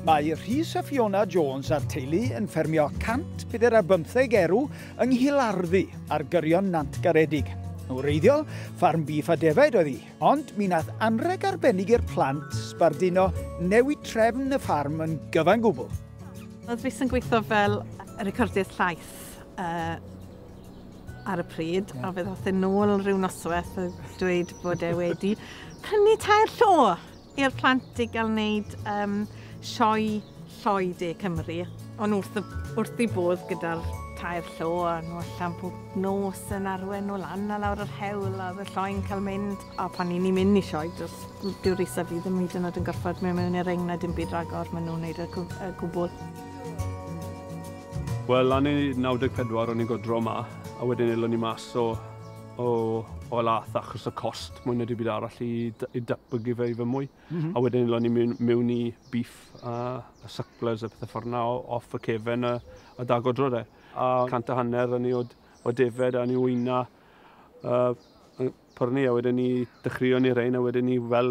Mae Rhys a Fiona Jones a'r teulu yn ffermio 145 erw yng Nghilarddu ar gyrion Nant Garedig. Yn wreiddiol, ffarm bîff a defaid oedd hi, ond mi nath anreg arbennig i'r plant sbarduno newid trefn y ffarm yn gyfan gwbl. Oedd Rhys yn gweithio fel recordydd llais, uh, ar y pryd, yeah. a fe ddoth yn ôl rhyw noswaith a dweud bod e wedi prynu tair llo i'r plant i gael wneud um, sioe lloi de Cymru. Ond wrth, wrth i bodd gyda'r tair llo a nhw allan pob nos yn arwen nhw lan a lawr yr hewl a fy lloi'n cael mynd. A pan ni'n mynd i sioe, does dyw'r isa fi ddim hyd yn oed yn gorfod mewn mewn i'r ring na dim byd ragor maen nhw'n neud y, y gwbl. Wel, lan i 94 o'n i'n godro yma, a wedyn elon ni mas o o o lath achos y cost mwy na dim byd arall i d- i datblygu fe i fy mwy. A wedyn elon ni mewn mewn i beef a a sucklers a pethe ffor 'na o- off y cefen a a da godro de. A cant a hanner o'n i o'd o defaid a o'n i wyna yy yn pwrnu a wedyn 'ny dechreuon ni rein a wedyn 'ny fel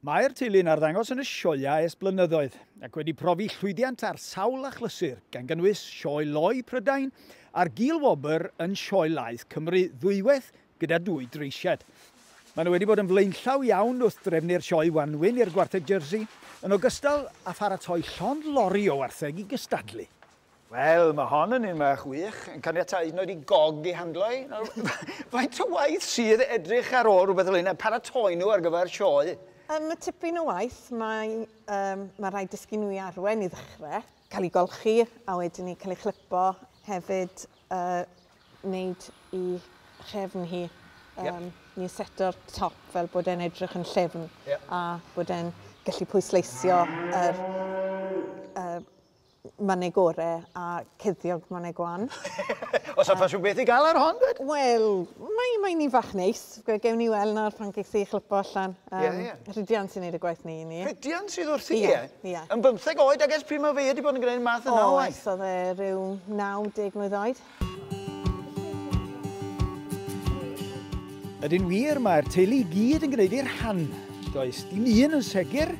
Mae'r teulu'n arddangos yn y sioeau ers blynyddoedd ac wedi profi llwyddiant ar sawl achlysur, gan gynnwys Sioe Loi Prydain a'r Gul Wobr yn Sioe Laeth Cymru ddwywaith gyda dwy dreisiad. Maen nhw wedi bod yn flaenllaw iawn wrth drefnu'r sioe wanwyn i'r gwartheg Jersey, yn ogystal â pharatoi llond lori o wartheg i gystadlu. Wel, mae hon yn un fach wych, yn caniatáu hyd yn oed i gog ei handlo hi. Nawr, faint o waith sydd edrych ar ôl rhywbeth fel hyn, a paratoi nhw ar gyfer sioe? Yym, mae tipyn o waith. Mae yym ma' raid dysgu nhw i arwen i ddechre, cael eu golchi, a wedyn 'ny cael ei chlypo, hefyd yy wneud i chefn hi, yym ni'n seto'r top fel bod e'n edrych yn llyfn a bod e'n gallu pwysleisio yr yy Manegore a Ceddiog Manegwan. Os a ffasiwn beth i gael ar hon, dweud? Wel, mae, mae ni fach neis. Gewn ni weld nawr pan ges i chlypo allan. Um, yeah, yeah. Rhydian sy'n neud y gwaith ni i ni. Rhydian sydd wrth i yeah, e? Yeah. Yn bymtheg oed, agos pryd mae fe wedi bod yn gwneud math yna o waith? O, oedd e rhyw 90 mlynedd oed. Ydyn wir, mae'r teulu i gyd yn gwneud ei rhan. Does dim un yn segur,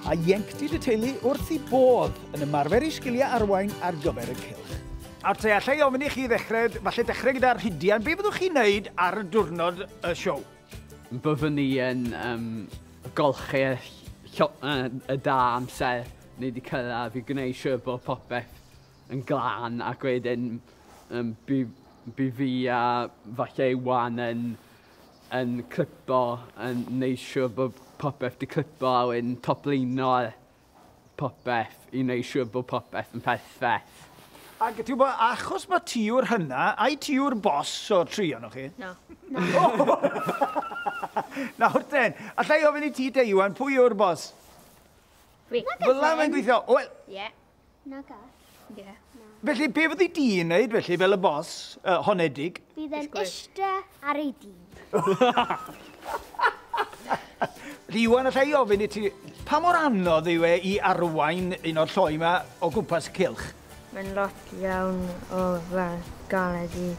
a ieuenctid y teulu wrth i bodd yn ymarfer ei sgiliau arwain ar gyfer y cylch. Nawr te, allai ofyn i chi ddechrau, falle dechrau gyda Rhidian, be fyddwch chi'n neud ar y diwrnod y siow? Byddwn ni yn um, golchi y, y, y da amser ni wedi cyrraedd i gwneud siŵr bod popeth yn glân ac wedyn um, bu, bu fi a falle wan yn, yn clipo, yn neud siwr bod popeth di clipo a wedyn toplino popeth i neud siwr bod popeth yn perffaith. Ac ti'n gwybod, achos mae ti yw'r hynna, ai ti yw'r bos o'r tri o'n chi? Na. Nawr ten, allai ofyn i ti te Iwan, pwy yw'r bos? Fi. Fel la mae'n gweithio? Wel, yeah. Na gall. Ie. Na. Felly, be fyddi di'n wneud felly fel y bos uh, honedig? Bydd yn eiste ar ei dî. Felly, Iwan, allai i ofyn i ti, pa mor anodd yw e i arwain un o'r lloi yma o gwmpas y cilch? Mae'n lot iawn o fel galed i,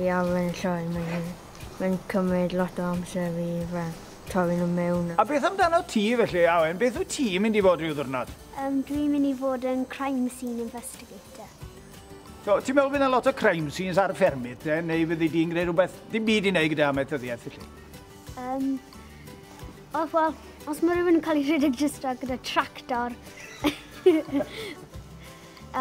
i arwain y lloi. Mae'n mae cymryd lot o amser i fel torri nhw mewn. A beth amdano ti felly, Awen? Beth wyt ti'n mynd i fod rhyw ddwrnod? Yym dwi'n mynd i fod yn crime scene investigator. So, ti'n meddwl bydd yna lot o crime scenes ar y ffermydd te, neu fyddi di'n gwneud rhywbeth dim byd i wneud gyda amaethyddiaeth felly? Um, os, well, os mae rhywun yn cael ei rhedeg jyst ar gyda tractor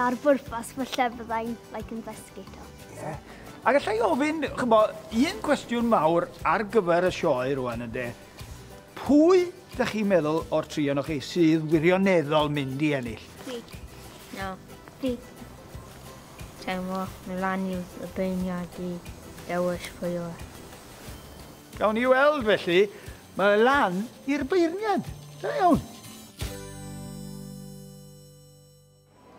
ar bwrpas falle byddai'n like, investigator. Yeah. Ac allai ofyn, chymbo, un cwestiwn mawr ar gyfer y sioe rwan ynddo, Pwy dych chi'n meddwl o'r tri o'n chi sydd wirioneddol mynd i ennill? Fi. No. Fi. Teimlo, mi lan i'w y beirniad i dewis pwy o'r. Gawn ni weld felly, mae lan i'r beirniad. Da iawn.